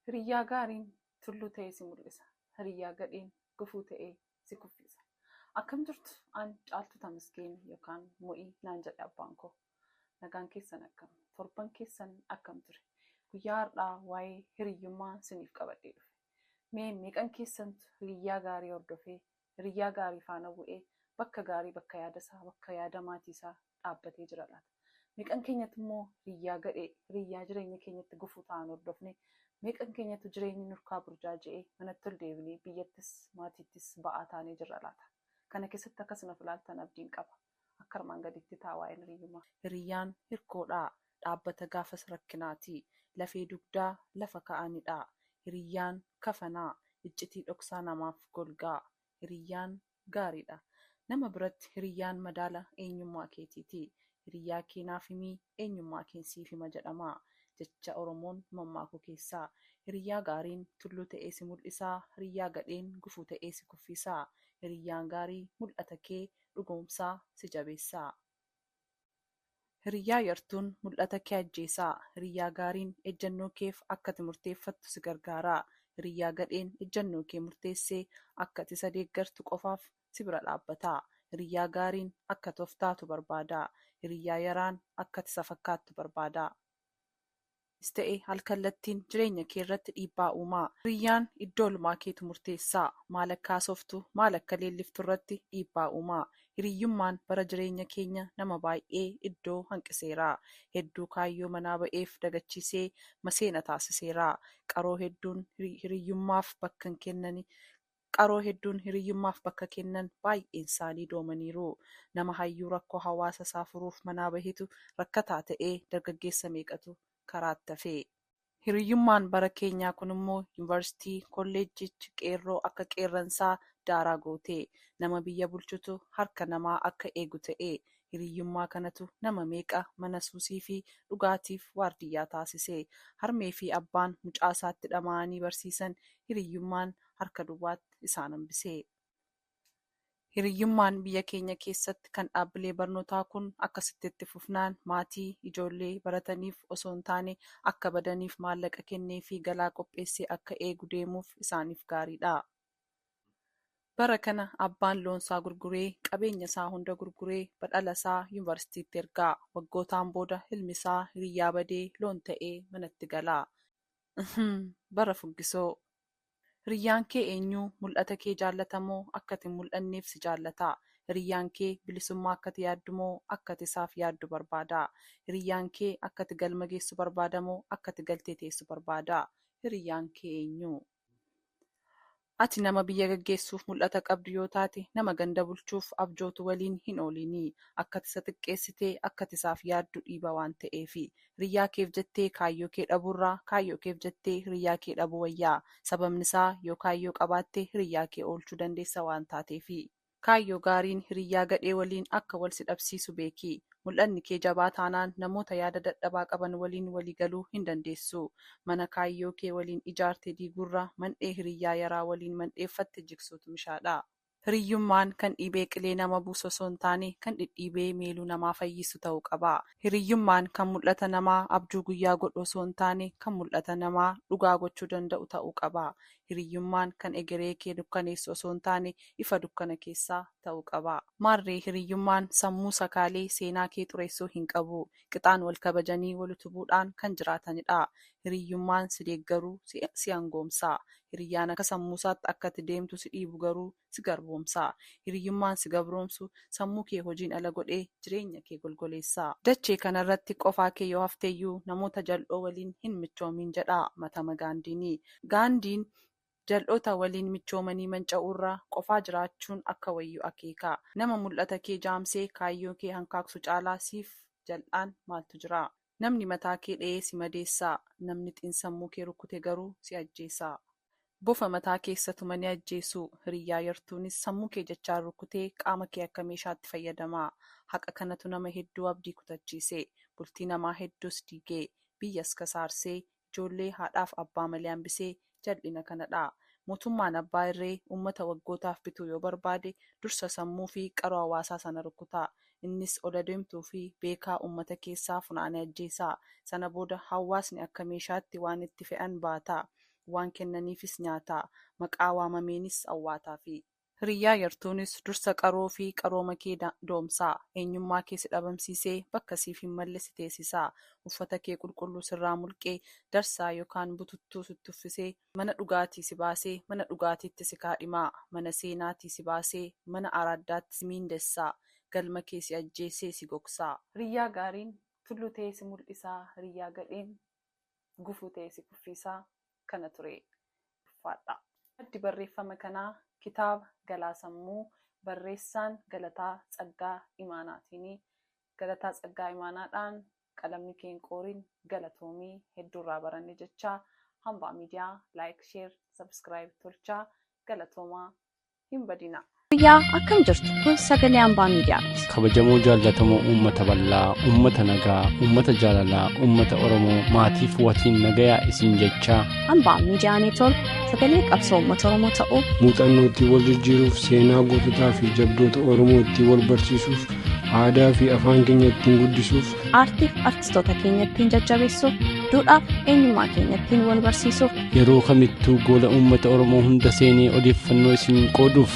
Hiriyyaa gaariin tulluu ta'ee si mul'isa. Hiriyyaa gadheen gufuu ta'ee si kuffisa. Akkam jirtu an Caaltuu Tamasgeen yookaan Mo'ii naan jedhe abbaan koo. Nagaan keessan akkam? Torban keessan akkam ture? Guyyaa har'aa waa'ee hiriyyummaa siniif qabadhee dhufe. Mee meeqan keessantu hiriyyaa gaarii hordofee hiriyyaa gaarii faana bu'ee bakka gaarii bakka yaada isaa bakka yaada maatii isaa dhaabbatee jira laata? Meeqan keenyatu immoo hiriyyaa gadhee hiriyyaa jireenya keenyatti gufuu ta'an hordofnee meeqan keenyatu jireenyi nurkaa burjaaji'ee manatti ol deebinee biyyattis maatiittis ba'aa taanee jirra laata? Kana keessatti akka isin of ilaaltan abdiin qaba. Akka armaan gadiitti ta'a waa'een hiriyyummaa. Hiriyyaan hirkoodha. Dhaabbata gaafas rakkinaati. Lafee dugdaa lafa ka'anidha. Hiriyyaan kafana. Iccitii dhoksaa namaaf golgaa. Hiriyyaan gaariidha. Nama biratti hiriyyaan madaala eenyummaa keetiiti. Hiriyyaa kee naaf himi eenyummaa keen siif hima jedhama. Jecha Oromoon mammaaku keessaa. Hiriyyaa gaariin tulluu ta'ee si mul'isa, hiriyyaa gadheen gufuu ta'ee si kuffiisa. Hiriyyaan gaarii mul'ata kee dhugoomsaa si jabeessaa Hiriyyaa yartuun mul'ata kee ajjeesaa Hiriyyaa gaariin ejjannoo keef akkati murteeffattu si gargaaraa Hiriyyaa gadheen ejjannoo kee murteessee akkati isa deeggartu qofaaf si bira dhaabbataa Hiriyyaa gaariin akkati of taatu barbaadaa Hiriyyaa yaraan akkati isa fakkaattu barbaadaa. Anis ta'e alkallattiin jireenya kee irratti dhiibbaa uuma. Hiriyyaan iddo olmaa keetu murteessa. Maal akka haasoftu, maal akka leelliftu irratti dhiibbaa uuma. Hiriyyummaan bara jireenya keenya nama baay'ee iddoo hanqiseera. Hedduu kaayyoo manaa ba'eef dagachiisee maseena taasiseera. Qaroo hedduun hiriyyummaaf bakka hin kennani. Qaroo hedduun hiriyyummaaf bakka kennan baay'eensaanii doomaniiru. Nama hayyuu rakkoo hawaasa isaa furuuf manaa bahetu rakkataa ta'ee dargaggeessa meeqatu karaatti hafe. Hiriyyummaan bara keenyaa kunimmoo yunivarsitii, kolleejjiichi qeerroo akka qeerransaa daaraa goote. Nama biyya bulchutu harka namaa akka eegu ta'e. Hiriyyummaa kanatu nama meeqa mana suusiifi dhugaatiif waardiyyaa taasise. Harmeefi abbaan mucaasaatti dhama'anii barsiisan hiriyyummaan harka duwwaatti isaan hambisee. Hiriyyummaan biyya keenya keessatti kan dhaabbilee barnootaa kun akkasitti itti fufnaan maatii ijoollee barataniif osoo hin taane akka badaniif maallaqa kenneefii galaa qopheessee akka eegu deemuuf isaaniif gaariidha. Bara kana abbaan loonsaa gurguree qabeenya isaa hunda gurguree badhala isaa yunivarsitiitti erga. Waggootaan booda ilmi isaa hiriyyaa badee loon ta'ee manatti gala. Uhmm bara fuggisoo. Hiriyyaan kee eenyu? Mul'ata kee jaallata moo akka ati hin mul'anneef si jaallata? Hiriyyaan kee bilisummaa akka ati yaaddu moo akka ati isaaf yaaddu barbaada? Hiriyyaan kee akka ati galma geessu barbaada moo akka ati galtee teessu barbaada? Hiriyyaan kee eenyu? Ati nama biyya gaggeessuuf mul'ata qabdu yoo taate, nama ganda bulchuuf abjootu waliin hin ooliini. Akka ati isa xiqqeessite akka ati isaaf yaaddu dhiiba waan ta'eefi. Hiriyyaa keef jettee kaayyoo kee dhabuurraa kaayyoo keef jettee hiriyyaa kee dhabuu wayya. Sababnisaa yoo kaayyoo qabaatte hiriyyaa kee oolchuu dandeessa waan taateefi. Kaayyoo gaariin hiriyyaa gadhee waliin akka wal si dhabsiisu beeki. Mul'anni kee jabaa taanaan namoota yaada dadhabaa qaban waliin walii galuu hin dandeessu. Mana kaayyoo kee waliin ijaarte diiguurra mandhee hiriyyaa yaraa waliin mandheeffatte jigsuutu mishaadha. Hiriyyummaan kan dhiibee qilee nama buusu osoo hin taane, kan dhidhiibee meeluu namaa fayyisu ta'uu qaba. Hiriyyummaan kan mul'ata namaa abjuu guyyaa godhu osoo hin taane, kan mul'ata namaa dhugaa gochuu danda'u ta'uu qaba. Hiriyyummaan kan egeree kee dukkaneessu osoo hin taane, ifa dukkana keessaa ta'uu qaba. Maarree hiriyyummaan sammuu sakaalee seenaa kee xureessuu hin qabu. qixaan wal kabajanii wal utubuudhaan kan jiraatanidha. Hiriyyummaan si deeggaru si angoomsa. Hiriyyaan akka sammuusaatti akka ati deemtu si dhiibu garuu si garboomsa. Hiriyyummaan si gabroomsu sammuu kee hojiin ala godhee jireenya kee golgoleessa. Dachee kanarratti qofaa kee yoo hafteyyuu namoota jal'oo waliin hin michoomiin jedha Matama Gaandiini. Gaandiin Jal'oota waliin michoomanii manca'uurraa qofaa jiraachuun akka wayyu akeekaa. Nama mul'ata kee jaamsee kaayyoo kee hankaaksu caalaa siif jal'aan maaltu jira? Namni mataa kee dhayee si madeessa, namni xinsammuu kee rukkute garuu si ajjeesa. Bofa mataa keessa tumanii ajjeesu. Hiriyyaa yartuunis sammuu kee jechaan rukkutee qaama kee akka meeshaatti fayyadama. Haqa kanatu nama hedduu abdii kutachiise. Bultii namaa hedduus diige. Biyyas kasaarsee. ijoollee haadhaaf abbaa malee hambisee jal'ina kanadhaa. Mootummaan abbaa irree uummata waggootaaf bituu yoo barbaade dursa sammuu fi qaroo hawaasaa sana rukkutaa. Innis ol adeemtuu fi beekaa uummata keessaa funaanee ajjeesaa. Sana booda hawaasni akka meeshaatti waan itti fe'an baataa. Waan kennaniifis nyaataa. Maqaa waamameenis awwaataafii. Hiriyyaa yartuunis dursa qaroo fi qarooma kee doomsaa. Eenyummaa kee si dhabamsiisee bakka siif hin malle si teesisaa. Uffata kee qulqulluu sirraa mulqee darsaa yokaan bututtuu sitti uffisee mana dhugaatii si baasee mana dhugaatiitti si kaadhimaa. Mana seenaatii si baasee mana araaddaatti si miindessaa. Galma kee si ajjeesee si gogsaa. Hiriyyaa gaariin tullu ta'ee si mul'isaa. Hiriyyaa gadheen gufuu ta'ee si kuffiisaa kana turee ulfaadhaa. Maddi barreeffama kanaa kitaaba Galaa Sammuu barreessaan Galataa Tsaggaa Imaanaatiini. Galataa Tsaggaa Imaanaadhaan qalamni kee hin qoorin galatoomi hedduu irraa baranne jechaa Hambaa Miidiyaa like share subscribe tolchaa galatoomaa. hin badinaa. Fayyaa akkam jirtu kun sagalee ambaa miidiyaati. kabajamoo jaallatamoo uummata bal'aa uummata nagaa uummata jaalalaa uummata oromoo maatiif watiin nagayaa isin jechaa Ambaa miidiyaa neetwoork sagalee qabsoo uummata Oromoo ta'uu muuxannoo ittiin wal jijjiiruuf seenaa goototaa fi jabdoota oromoo ittiin wal barsiisuuf aadaa fi afaan keenya ittiin guddisuuf aartiif artistoota keenya ittiin jajjabeessuuf duudhaaf eenyummaa keenya ittiin wal barsiisuuf yeroo kamittuu goola uummata oromoo hunda seenee odeeffannoo isin qooduuf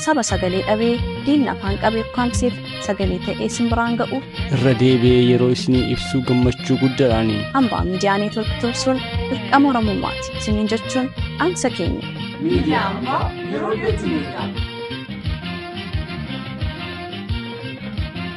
saba sagalee dhabee diinni afaan qabee ukkaamseef sagalee ta'ee isin biraan ga'uuf irra deebi'ee yeroo isinii ibsuu gammachuu guddaadhaani hambaa miidiyaa neetwork tursuun dirqama oromummaati isiniin jechuun dhaamsa keenya Miidiyaa ammaa yeroo dhiyootti miidhaa.